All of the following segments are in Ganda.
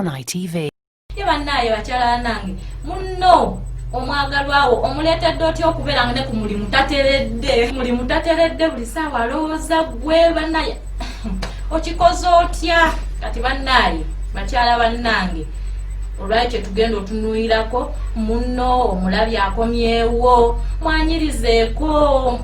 on ITV. Ye bannaaye bakyala nange munno omwagalwawo omuleetedde otya okubeera nga ne ku mulimu tateredde mulimu tateredde buli saawa alowooza gwe bannaaye okikoze otya kati bannaaye bakyala bannange olwekyo tugenda otunuirako muno omulabi akomyewo mwanyirizeeko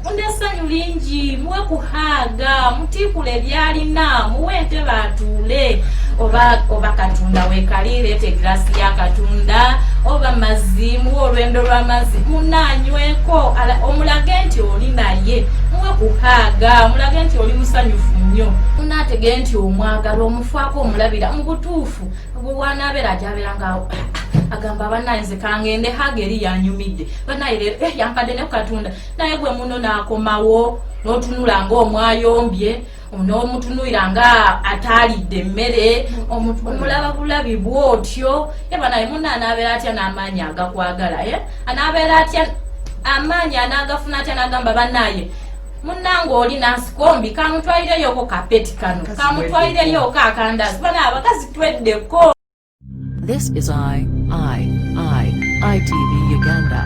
munda essanyu lingi muwe kuhaaga mutiikula ebyalina muwe entebe atuule oba oba katonda wekali leeta egirasi ya katonda oba mazzi muwe olwendo lw'amazzi munaanyweko omulage nti oli naye muwe kuhaaga mulage nti oli musanyufu nnyo munaategee nti omwagala omufaako omulabira mu butuufu Ogwo bwanabeera ajabeera nga agamba banaye nze kangende haga eri yanyumidde banaye leero eh, yampadde ne kukatunda naye gwe muno n'akomawo n'otunula ng'omwayombye n'omutunuira nga ataalidde emmere omulaba bulabi bwotyo ye banaye muna anaabeera atya n'amaanyi agakwagala ye eh? anaabeera atya amaanyi anaagafuna atya n'agamba banaye munange oli nansikombi kamutwalireyoko kapeti kano kamutwalireyoko akandazi bana abakazi tweddeko This is I, I, I, ITV Uganda.